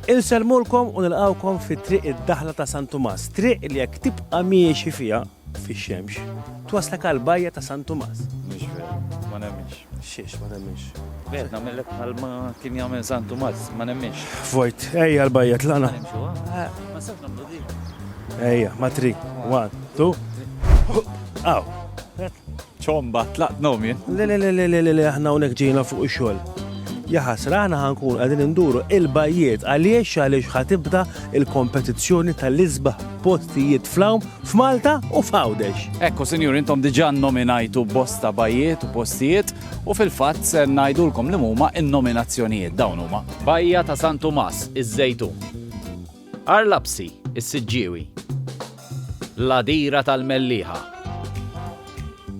Insellmulkom u nilqgħukom fi Triq id-Daħla ta' San Tumas, triq li jekk tibqa' miexi fiha, fix-xemx, twasslek għall-bajja ta' San Tumas. Mhux veru, ma nemminx. Xiex ma temminx? Veru, nagħmellek bħalma kien jagħmel San Tumas, ma nemminx. Vojt, ejja l-bajja tlaqna. Ma sewx nagħmlu dik. Ejja, ma tri, one, two. Aw. Ċomba, tlaqt nogħom jien. Le le le le le le aħna hawnhekk ġejna fuq ix-xogħol. Ja ħasra aħna ħankun qegħdin induru il-bajjiet għaliex għaliex ħa tibda il-kompetizzjoni tal-isbaħ postijiet fl-hawn f'Malta u f'Għawdex. Ekku sinjur intom diġà nominajtu bosta bajjiet u postijiet u fil-fatt se ngħidulkom li huma n-nominazzjonijiet dawn huma. Bajja ta' San Tumas, iż-Żejtun. Għar Lapsi, is-Siġġiewi. L-għadira tal-Mellieħa.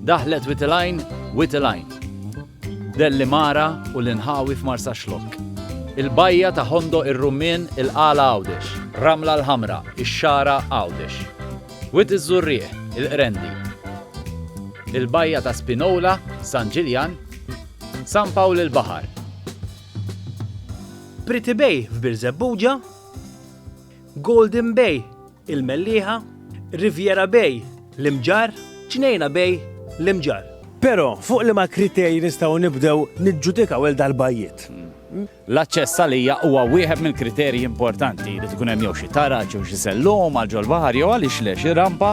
Daħlet Witilgħin, Witilgħin. Dellimara u l-inħawi f'Marsaxlokk. Il-bajja ta' Hondo ir-Rummien il-Qala Għawdex. Ramla l-Ħamra, ix-Xagħra Għawdex. Wied iż-Żurrieq, il-Qrendi. Il-bajja ta' Spinola, San Ġiljan. San Pawl il-Baħar. Pretty Bay f'Birżebbuġa, Golden Bay il-Mellieħa, Riviera Bay l-Imġarr, Ġnejna Bay l-Imġarr. Però fuq liema kriterji nistgħu nibdew niġġudikaw il dal-bajjiet? L-aċċess għalija huwa wieħed mill-kriterji importanti li tkun hemm jew xi taraġ jew xi sellum għal ġol-baħar jew għaliex le xi rampa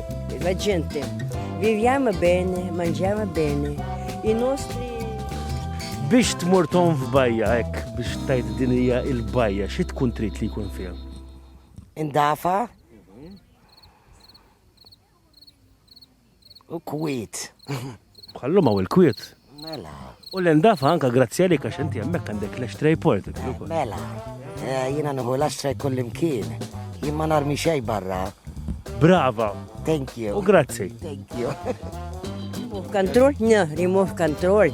La gente, viviamo bene, mangiamo bene, i nostri biex tmur ton f'bajja hekk biex tajt din hija il-bajja xi tkun trid li jkun fiha? Indafa u kwit. Bħallum hawn il-kwiet. Mela. U l-endafa anka grazzi għalik għax inti hemmhekk għandek l-ashtray portable. Mela. Eh, jiena nħu l-ashtray kullimkien. Jien ma narmi xejn barra. Brava. Thank you. U grazzi. Thank you. Move control? No, remove control.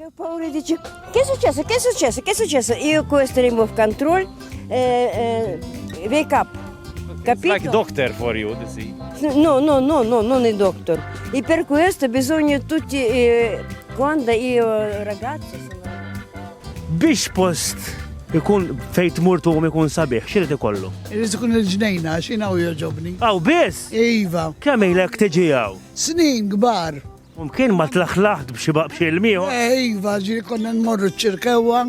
Jew pawri diċi, kien suċċessu, kien suċċessu, kien suċċessu, iju kwestri move control, wake up. Capito? Like doctor for you, this is. No, no, no, no, non è doctor. E per questo bisogna tutti, eh, quando io ragazzo sono... Biex post ikun fejt murtu u ikun sabiħ, xirrit ikollu? Irrid ikun il-ġnejna, xinaw joġobni. Aw, biss? Iva. Kemm ilek tiġi għaw? Snin gbar. Mkien ma tlaħlaħt b'xi baqbxi l-miegħu. Eh, iva, ġiri konna nmorru ċirkewa,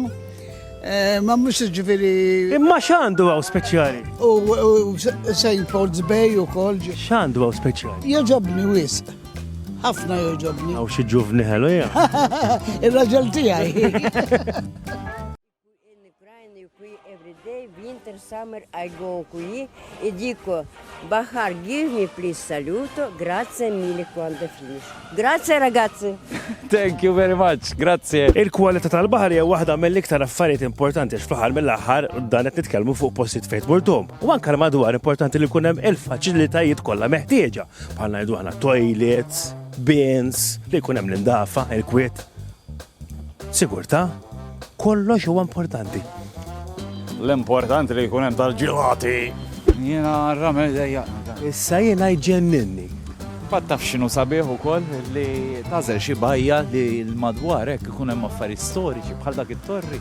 eh, ma mhux ġifieri. Imma x'għandu għaw speċjali? U St. Paul's Bay u kol. X'għandu għaw speċjali? Joġobni wisq. Ħafna joġobni. Għaw xi ġuvni ħelu, ja. Il-raġel tiegħi. Thank you very much, grazie. Il-kwalità tal-baħar hija waħda mill-iktar affarijiet importanti għax fl-aħħar mill-aħħar dan qed nitkellmu fuq postijiet fejn tmurtum. U anke l-madwar importanti li jkun hemm il-faċilitajiet kollha meħtieġa bħal ngħidu aħna toilets, bins, li jkun hemm l-indafa, il-kwiet. Sigurtà, kollox huwa importanti. L-importanti li jkun hemm tal-ġilati. Jiena ramel dejja. Issa jiena jġenninni. Fatt taf x'inhu sabiħ ukoll li tażel xi bajja li l-madwar hekk ikun hemm affarijiet storiċi bħal dak it-torri.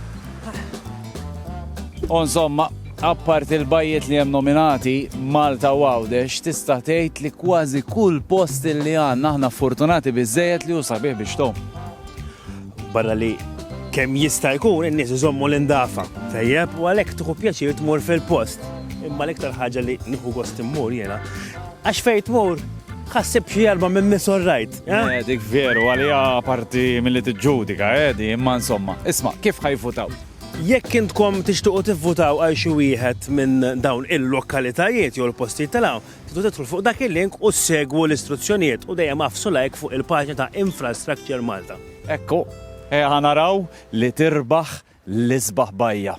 U insomma, Apparti l-bajjiet li hemm nominati, Malta u Għawdex, tista' tgħid li kważi kull post li għandna aħna fortunati biżżejjed li hu sabiħ biex tgħum. Barra li kemm jista' jkun in-nies iżommu l-indafa. Tajjeb, u għalhekk tieħu pjaċir tmur fil-post. Imma l-iktar ħaġa li nieħu gost immur jiena. Għax fejn tmur, ħassib xi erba minn miss orrajt. Eh? Eh, dik veru, għalija parti mill-li tiġġudika, edi, eh, imma insomma. Isma, kif ħajfutaw? Jekk intkom tixtiequ tivvutaw għal xi wieħed minn dawn il-lokalitajiet jew il-postijiet ta' l-hawn, tridu tidħlu fuq dak il-link u ssegwu l-istruzzjonijiet u dejjem agħfsu like fuq il-paġna ta' Infrastructure Malta. Ekku, ejja ħa naraw li tirbaħ l-isbaħ bajja.